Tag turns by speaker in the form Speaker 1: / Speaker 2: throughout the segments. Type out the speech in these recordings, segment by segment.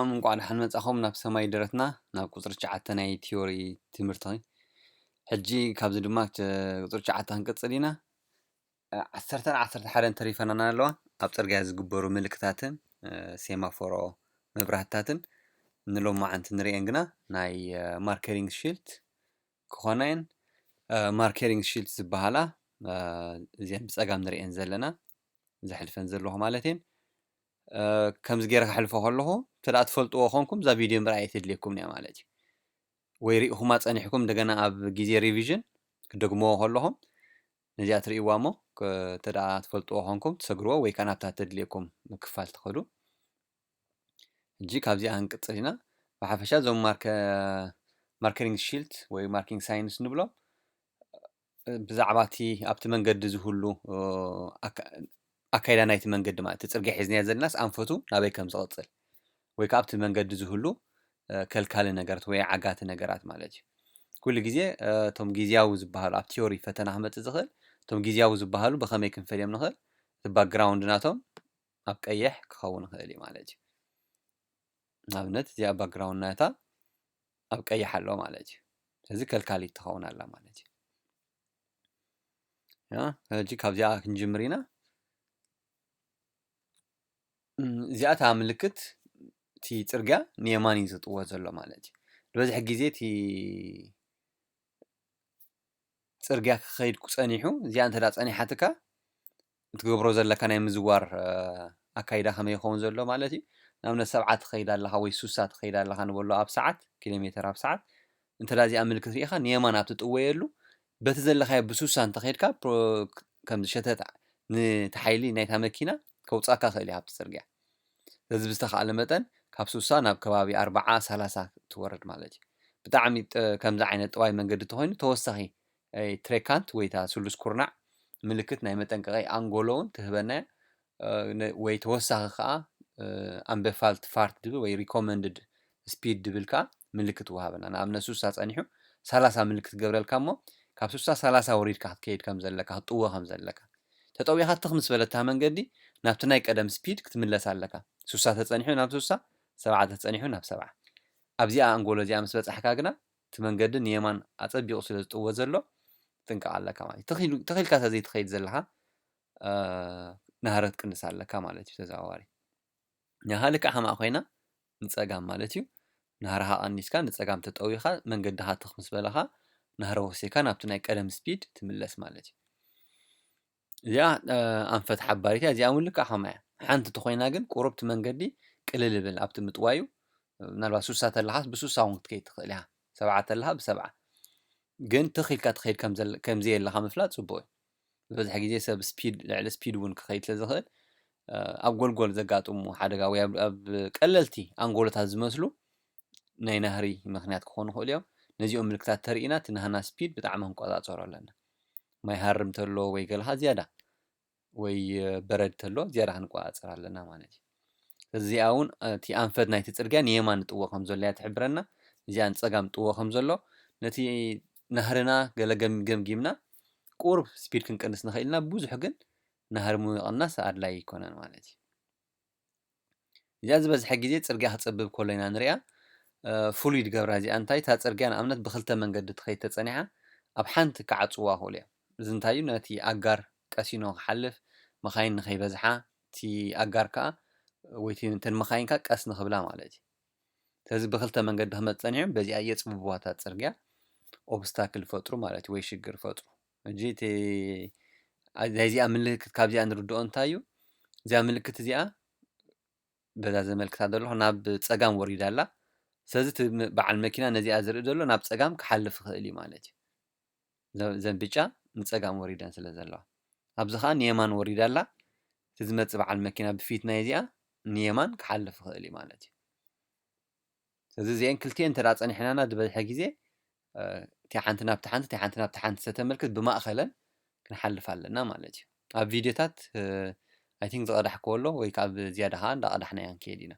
Speaker 1: ሰላም እንቋዕ ደሓን መጻኹም ናብ ሰማይ ደረትና ናብ ቁጽሪ ትሽዓተ ናይ ቲዮሪ ትምህርቲ ሕጂ ካብዚ ድማ ቁጽሪ ትሽዓተ ክንቅጽል ኢና ዓሰርተን ዓሰርተ ሓደን ተሪፈናና ኣለዋ ኣብ ፅርግያ ዝግበሩ ምልክታትን ሴማፎሮ መብራህትታትን ንሎማዓንቲ ንሪኤን ግና ናይ ማርከሪንግ ሽልት ክኾና እየን ማርከሪንግ ሽልት ዝበሃላ እዚን ብፀጋም ንሪኤን ዘለና ዘሕልፈን ዘለኹ ማለት እየን ከምዚ ገይረ ከሕልፎ ከለኹ እንተ ትፈልጥዎ ኮንኩም እዛ ቪድዮ ምርኣይ ኣይተድልየኩምን እያ ማለት እዩ ወይ ርኢኹማ ጸኒሕኩም እንደገና ኣብ ግዜ ሪቪዥን ክደግምዎ ከለኹም ነዚኣ ትርእይዋ እሞ እንተ ትፈልጥዎ ኮንኩም ትሰግርዎ ወይ ከዓ ናብታ ተድልየኩም ክፋል ትኸዱ ሕጂ ካብዚኣ ክንቅጽል ኢና ብሓፈሻ እዞም ማርከሪንግ ሺልት ወይ ማርኪንግ ሳይንስ ንብሎም ብዛዕባ እቲ ኣብቲ መንገዲ ዝህሉ ኣካይዳ ናይቲ መንገዲ ማለት እቲ ፅርግያ ሒዝናዮ ዘለናስ ኣንፈቱ ናበይ ከም ዝቕፅል ወይ ከዓ ኣብቲ መንገዲ ዝህሉ ከልካሊ ነገራት ወይ ዓጋቲ ነገራት ማለት እዩ። ኩሉ ግዜ እቶም ግዝያዊ ዝበሃሉ ኣብ ቲዮሪ ፈተና ክመፅእ ዝኽእል እቶም ግዝያዊ ዝበሃሉ ብኸመይ ክንፈልዮም ንኽእል? እቲ ባክግራውንድ ናቶም ኣብ ቀይሕ ክኸውን ይኽእል እዩ ማለት እዩ። ንኣብነት እዚኣ ባክግራውንድ ናታ ኣብ ቀይሕ ኣሎ ማለት እዩ ስለዚ ከልካሊት ትኸውን ኣላ ማለት እዩ ሕጂ ካብዚኣ ክንጅምር ኢና እዚኣ እታ ምልክት እቲ ፅርግያ ንየማን እዩ ዝጥወ ዘሎ ማለት እዩ ዝበዝሕ ግዜ እቲ ፅርግያ ክኸይድ ጸኒሑ እዚኣ እንተ ፀኒሓትካ እትገብሮ ዘለካ ናይ ምዝዋር ኣካይዳ ከመይ ይከውን ዘሎ ማለት እዩ ንኣብነት ሰብዓ ትከይድ ኣለካ ወይ ሱሳ ትከይድ ኣለካ ንበሎ ኣብ ሰዓት ኪሎሜተር ኣብ ሰዓት እንተ እዚኣ ምልክት ሪኢካ ንየማን ኣብ ትጥወየሉ በቲ ዘለካዮ ብሱሳ እንተ ከድካ ከምዚ ሸተት ንቲ ሓይሊ ናይታ መኪና ከውጻካ ይክእል እዩ ካብቲ ጽርግያ ስለዚ ብዝተካእለ መጠን ካብ ሱሳ ናብ ከባቢ ኣርባዓ ሰላሳ ትወርድ ማለት እዩ ብጣዕሚ ከምዚ ዓይነት ጥዋይ መንገዲ ተኮይኑ ተወሳኪ ናይ ትሬካንት ወይ እታ ስሉስ ኩርናዕ ምልክት ናይ መጠንቀቒ ኣንጎሎ ውን ትህበና እያ። ወይ ተወሳኺ ከኣ ኣንበፋልት ፋርት ድብል ወይ ሪኮመንድድ ስፒድ ድብል ከኣ ምልክት ትወሃበና። ንኣብነት ሱሳ ጸኒሑ ሰላሳ ምልክት ትገብረልካ እሞ ካብ ሱሳ ሰላሳ ወሪድካ ክትከይድ ከም ዘለካ ክትጥወ ከም ዘለካ። ተጠዊኻ ትኽ ምስ በለታ መንገዲ ናብቲ ናይ ቀደም ስፒድ ክትምለስ ኣለካ። ሱሳ ተጸኒሑ ናብ ሱሳ፣ ሰብዓ ተጸኒሑ ናብ ሰብዓ። ኣብዚኣ ኣንጎሎ እዚኣ ምስ በጻሕካ ግና እቲ መንገዲ ንየማን ኣጸቢቑ ስለ ዝጥወ ዘሎ ክትጥንቀቕ ኣለካ ማለት እዩ። ተኺሉ ተኺልካ እንተ ዘይትኸይድ ዘለኻ ናህረት ቅንስ ኣለካ ማለት እዩ ተዘዋዋሪ። ናሃ ልክዕ ከማኣ ኮይና ንጸጋም ማለት እዩ። ናህራኻ ቀኒስካ ንጸጋም ተጠዊኻ መንገድኻ ትኽ ምስ በለኻ ናህረ ወሲኻ ናብቲ ናይ ቀደም ስፒድ ትምለስ ማለት እዩ። እዚኣ ኣንፈት ሓባሪት እያ፣ እዚኣ እውን ልክዕ ከምኣ እያ። ሓንቲ ተኾይና ግን ቁሩብ እቲ መንገዲ ቅልል ይብል፣ ኣብቲ ምጥዋዩ ምናልባት ሱሳ ተለኻስ ብሱሳ እውን ክትከይድ ትኽእል ኢኻ፣ ሰብዓ ተለኻ ብሰብዓ ግን ትኽ ኢልካ ትኸይድ ከምዘየለኻ ምፍላጥ ፅቡቕ እዩ። ዝበዝሐ ግዜ ሰብ ስፒድ ልዕሊ ስፒድ እውን ክኸይድ ስለ ዝኽእል ኣብ ጎልጎል ዘጋጥሙ ሓደጋ ወይ ኣብ ቀለልቲ ኣንጎሎታት ዝመስሉ ናይ ናህሪ ምኽንያት ክኾኑ ይኽእሉ እዮም። ነዚኦም ምልክታት ተሪኢና እቲ ናህና ስፒድ ብጣዕሚ ክንቆፃፀሮ ኣለና። ማይ ሃርም እንተሎ ወይ ገልሃ ዝያዳ ወይ በረድ ተሎ ዝያዳ ክንቆፃፀር ኣለና ማለት እዩ። እዚኣ እውን እቲ ኣንፈት ናይቲ ፅርግያ ንየማን ንጥዎ ከም ዘሎ እያ ትሕብረና። እዚኣ ንፀጋም ጥዎ ከም ዘሎ ነቲ ናህርና ገለ ገምጊምና ቁሩብ ስፒድ ክንቅንስ ንኽእል ኢና። ብዙሕ ግን ናህሪ ምቕናስ ኣድላዪ ኣይኮነን ማለት እዩ። እዚኣ ዝበዝሐ ግዜ ጽርግያ ክጸብብ ከሎ ኢና ንሪኣ ፍሉይ ድገብራ እዚኣ እንታይ እታ ጽርግያ ንኣብነት ብክልተ መንገዲ ትኸይድ ተጸኒሓ ኣብ ሓንቲ ክዓጽዋ ክእሉ እዮም እዚ እንታይ እዩ ነቲ ኣጋር ቀሲኖ ክሓልፍ መኻይን ንኸይበዝሓ እቲ ኣጋር ከዓ ወይ እተን መኻይን ከዓ ቀስ ንኽብላ ማለት እዩ ስለዚ ብክልተ መንገዲ ክመፅ ጸኒሖም በዚኣ የፅብብዋ እታ ፅርግያ ኦብስታክል ፈጥሩ ማለት እዩ ወይ ሽግር ፈጥሩ ሕጂ እቲ ናይ እዚኣ ምልክት ካብዚኣ ንርድኦ እንታይ እዩ እዚኣ ምልክት እዚኣ በዛ ዘመልክታ ዘለኹ ናብ ፀጋም ወሪዳ ኣላ ስለዚ እቲ በዓል መኪና ነዚኣ ዝርኢ ዘሎ ናብ ፀጋም ክሓልፍ ይኽእል እዩ ማለት እዩ ዘን ብጫ ንፀጋም ወሪደን ስለ ዘለዋ ኣብዚ ከዓ ንየማን ወሪዳ ኣላ እቲ ዝመፅእ በዓል መኪና ብፊት ናይ እዚኣ ንየማን ክሓልፍ ይኽእል እዩ ማለት እዩ ስለዚ እዚኤን ክልቲኤን እንተ ጸኒሕናና ዝበዝሐ ግዜ እቲኣ ሓንቲ ናብቲ ሓንቲ እቲኣ ሓንቲ ናብቲ ሓንቲ ሰተመልክት ብማእኸለን ክንሓልፍ ኣለና ማለት እዩ ኣብ ቪድዮታት ኣይ ቲንክ ዝቐዳሕክዎ ኣሎ ወይ ካብ ዝያዳ ከዓ እንዳቐዳሕና ኢና ንከይድ ኢና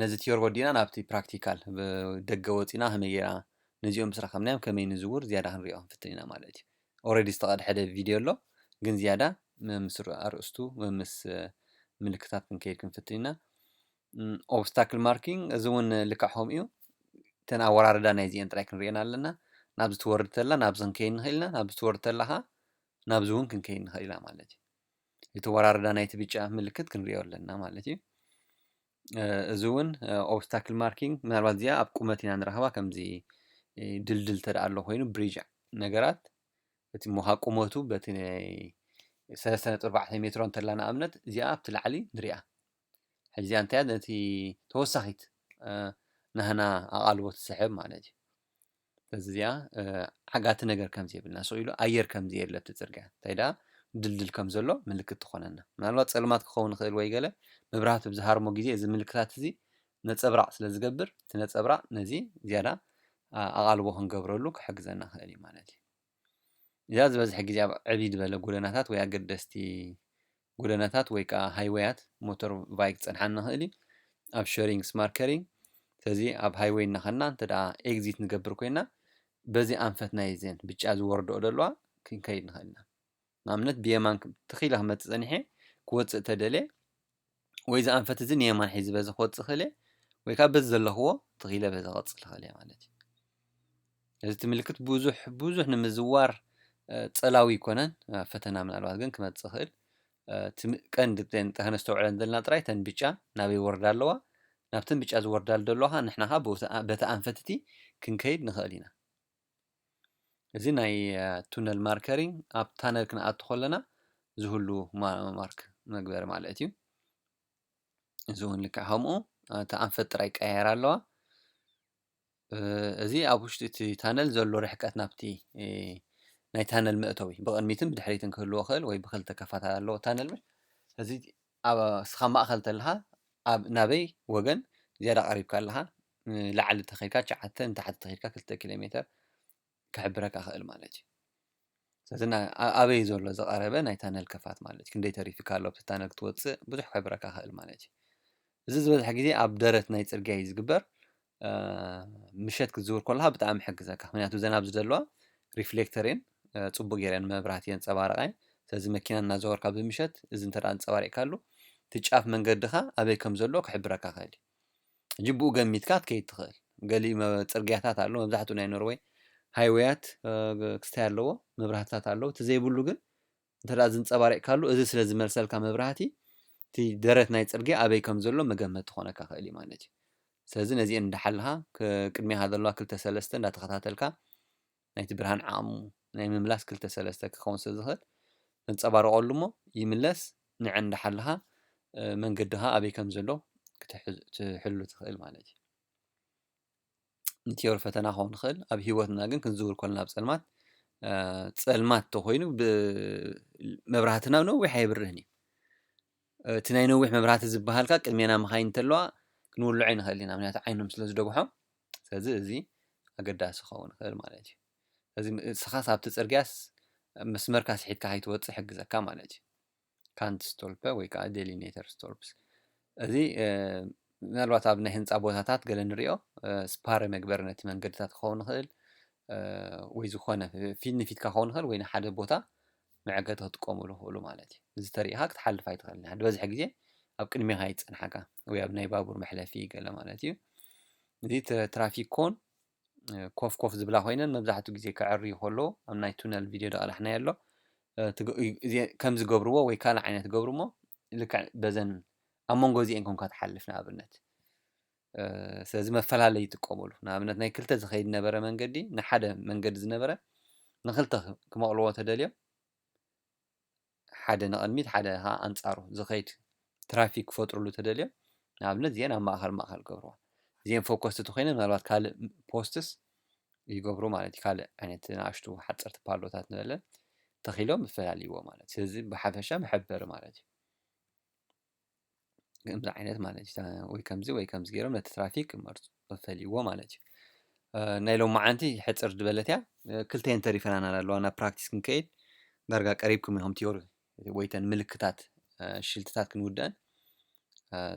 Speaker 1: ነዚ ትዮር ወዲና ናብቲ ፕራክቲካል ደገ ወፂና ከመይ ጌርና ነዚኦም ምስ ረኸብናዮም ከመይ ንዝውር ዝያዳ ክንሪኦ ክንፍትን ኢና ማለት እዩ ኦረዲ ዝተቀድሐደ ቪድዮ ኣሎ ግን ዝያዳ መምስ ኣርእስቱ መምስ ምልክታት ክንከይድ ክንፍትን ኢና ኦብስታክል ማርኪንግ እዚ እውን ልክዕ ከምኡ እዩ እተን ኣወራርዳ ናይ ዚኤን ጥራይ ክንሪኤን ኣለና ናብዚ ትወርድ ተላ ናብዚ ክንከይድ ንኽእል ኢና ናብዚ ትወርድ ተላ ከዓ ናብዚ እውን ክንከይድ ንኽእል ኢና ማለት እዩ እቲ ወራርዳ ናይቲ ብጫ ምልክት ክንሪኦ ኣለና ማለት እዩ እዚ እውን ኦብስታክል ማርኪንግ ምናልባት እዚኣ ኣብ ቁመት ኢና ንረኽባ ከምዚ ድልድል ተደኣ ኣሎ ኮይኑ ብሪጅ ነገራት እቲ ሞኻ ቁመቱ በቲ ሰለስተ ነጥቢ ኣርባዕተ ሜትሮ እንተላ ንኣብነት እዚኣ ኣብቲ ላዕሊ ንሪኣ ሕዚ እዚኣ እንታይ ነቲ ተወሳኺት ናህና ኣቓልቦ ትስሕብ ማለት እዩ ስለዚ እዚኣ ዓጋቲ ነገር ከም ዘይብልና ስቕ ኢሉ ኣየር ከም ዘየለ ኣብቲ ጽርግያ እንታይ ደኣ ድልድል ከም ዘሎ ምልክት ትኾነና ምናልባት ጸልማት ክኸውን ይኽእል ወይ ገለ መብራህቲ ብ ዝሃርሞ ግዜ እዚ ምልክታት እዚ ነጸብራቕ ስለ ዝገብር እቲ ነጸብራቕ ነዚ ዝያዳ ኣቓልቦ ክንገብረሉ ክሕግዘና ይኽእል እዩ ማለት እዩ። እዚኣ ዝበዝሐ ግዜ ኣብ ዕብይ ዝበለ ጎደናታት ወይ ኣገደስቲ ጎደናታት ወይ ከኣ ሃይወያት ሞቶር ቫይክ ክጸንሓኒ ይኽእል እዩ። ኣብ ሸሪንግ ስማርት ከሪንግ ስለዚ ኣብ ሃይወይ እናኸና እንተ ደኣ ኤግዚት ንገብር ኮይና በዚ ኣንፈት ናይዘን ብጫ ዝወርድኦ ዘለዋ ክንከይድ ንኽእል ኢና። ንኣብነት ብየማን ክም ትኽ ኢለ ክመጽእ ጸኒሐ ክወጽእ ተደልየ ወይ ዝኣንፈት እዚ ንየማን ሒዚ በዚ ክወጽእ ክእል እየ ወይ ከዓ በዚ ዘለኽዎ ትኽ ኢለ በዚ ክቕጽል ክእል እየ ማለት እዩ እዚ እቲ ምልክት ብዙሕ ብዙሕ ንምዝዋር ጸላዊ ይኮነን ፈተና ምናልባት ግን ክመጽእ ክእል እቲ ቀንዲ ከነስተውዕለን ዘለና ጥራይ ተን ብጫ ናበይ ወርዳ ኣለዋ ናብተን ብጫ ዝወርዳሉ ዘለዋ ንሕና ከዓ በቲ ኣንፈትቲ ክንከይድ ንኽእል ኢና እዚ ናይ ቱነል ማርከሪንግ ኣብ ታነል ክንኣቱ ከለና ዝህሉ ማርክ መግበሪ ማለት እዩ። እዚ እውን ልክዕ ከምኡ እቲ ኣንፈት ጥራይ ይቀያየራ ኣለዋ። እዚ ኣብ ውሽጢ እቲ ታነል ዘሎ ርሕቀት ናብቲ ናይ ታነል መእተዊ ብቕድሚትን ብድሕሪትን ክህልዎ ይኽእል ወይ ብኽልተ ክፋት ኣለዎ ታነል እዚ ኣብ እስኻ ማእኸል ተለኻ ኣብ ናበይ ወገን ዝያዳ ቀሪብካ ኣለኻ ንላዕሊ ተኸድካ ትሽዓተ ንታሕቲ ተኸድካ ክልተ ኪሎ ሜተር ክሕብረካ ክእል ማለት እዩ። ስለዚ ኣበይ እዩ ዘሎ ዝቐረበ ናይ ታነል ከፋት ማለት እዩ ክንደይ ተሪፊካ ኣሎ ኣብቲ ታነል ክትወፅእ ብዙሕ ክሕብረካ ክእል ማለት እዩ። እዚ ዝበዝሐ ግዜ ኣብ ደረት ናይ ፅርግያ እዩ ዝግበር ምሸት ክትዝውር ከለኻ ብጣዕሚ ይሕግዘካ ምክንያቱ እዘን ኣብዚ ዘለዋ ሪፍሌክተር እየን ፅቡቅ ገይረን መብራህቲ የንፀባርቃ እየን ስለዚ መኪና እናዘወርካ ብምሸት እዚ እንተ ኣንፀባሪቅካሉ እቲ ጫፍ መንገድኻ ኣበይ ከም ዘሎ ክሕብረካ ይኽእል እዩ ሕጂ ብኡ ገሚትካ ክትከይድ ትኽእል ገሊኡ ፅርግያታት ኣሎ መብዛሕትኡ ናይ ኖርወይ ሃይወያት ክስታይ ኣለዎ መብራህትታት ኣለዎ እቲ ዘይብሉ ግን እንተድኣ ዝንጸባሪቕካሉ እዚ ስለ ዝመልሰልካ መብራህቲ እቲ ደረት ናይ ጽርግያ ኣበይ ከም ዘሎ መገመቲ ክኾነካ ይኽእል እዩ ማለት እዩ። ስለዚ ነዚኤን እንዳሓለኻ ቅድሜኻ ዘለዋ ክልተ ሰለስተ እንዳተኸታተልካ ናይቲ ብርሃን ዓቕሙ ናይ ምምላስ ክልተ ሰለስተ ክኸውን ስለ ዝኽእል ተንጸባርቐሉ እሞ ይምለስ ንዐን እንዳሓለኻ መንገድኻ ኣበይ ከም ዘሎ ክትሕሉ ትኽእል ማለት እዩ። ንትዮሪ ፈተና ክኸውን ይኽእል ኣብ ሂወትና ግን ክንዝውር ኮለና ኣብ ጸልማት ጸልማት ተኾይኑ መብራህትና ነዊሕ ኣይብርህን እዩ እቲ ናይ ነዊሕ መብራህቲ ዝበሃልካ ቅድሜና መኻይን እንተለዋ ክንውልዖ ንኽእል ኢና ምክንያቱ ዓይኖም ስለ ዝደጉሖም ስለዚ እዚ ኣገዳሲ ክኸውን ይኽእል ማለት እዩ እዚ ንስኻስ ኣብቲ ጽርግያስ መስመርካ ስሒትካ ከይትወጽእ ይሕግዘካ ማለት እዩ። ካንት ስቶልፐ ወይ ከዓ ዴሊኔተር ስቶልፕስ እዚ ምናልባት ኣብ ናይ ህንፃ ቦታታት ገለ ንሪኦ ስፓረ መግበሪ ነቲ መንገድታት ክኸውን ይኽእል ወይ ዝኾነ ፊት ንፊትካ ክኸውን ይኽእል ወይ ንሓደ ቦታ መዐገቲ ክጥቀሙሉ ይኽእሉ ማለት እዩ እዚ ተሪኢኻ ክትሓልፍ ኣይትኽእልን ኢኻ ዝበዝሐ ግዜ ኣብ ቅድሜኻ ይፀንሓካ ወይ ኣብ ናይ ባቡር መሕለፊ ገለ ማለት እዩ እዚ ትራፊክ ኮን ኮፍ ኮፍ ዝብላ ኮይነን መብዛሕትኡ ግዜ ከዐርዩ ከሎ ኣብ ናይ ቱነል ቪድዮ ደቕላሕናዮ ኣሎ ከም ዝገብርዎ ወይ ካልእ ዓይነት ገብሩ እሞ ልክዕ በዘን ኣብ መንጎ እዚአን ኮንካ ትሓልፍ ንኣብነት ስለዚ መፈላለይ ይጥቀሙሉ ንኣብነት ናይ ክልተ ዝኸይድ ነበረ መንገዲ ንሓደ መንገዲ ዝነበረ ንክልተ ክመቕልዎ ተደልዮም ሓደ ንቕድሚት ሓደ ከኣ ኣንጻሩ ዝኸይድ ትራፊክ ክፈጥርሉ እንተደልዮም ንኣብነት እዚኤን ኣብ ማእኸል ማእኸል ክገብርዋ እዚኤን ፎከስ እንተኾይነን ምናልባት ካልእ ፖስትስ ይገብሩ ማለት እዩ ካልእ ዓይነት ንኣሽቱ ሓፀርቲ ፓሎታት ንበለን ተኺሎም ይፈላልይዎ ማለት ስለዚ ብሓፈሻ መሐበሪ ማለት እዩ ከምዚ ዓይነት ማለት እዩ ወይ ከምዚ ወይ ከምዚ ገይሮም ነቲ ትራፊክ ክመርፁ ፈልይዎ ማለት እዩ ናይ ሎማዓንቲ ሕፅር ዝበለት እያ ክልተን ተሪፈናና ኣለዋ ናብ ፕራክቲስ ክንከይድ ዳርጋ ቀሪብኩም ኢኹም ቲዮሪ ወይተን ምልክታት ሽልትታት ክንውደአን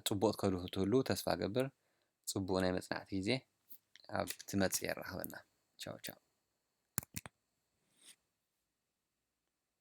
Speaker 1: ፅቡቕ ትከዱ ትህሉ ተስፋ ገብር ፅቡቕ ናይ መፅናዕቲ ግዜ ኣብ ትመፅእ የራኽበና ቻው ቻው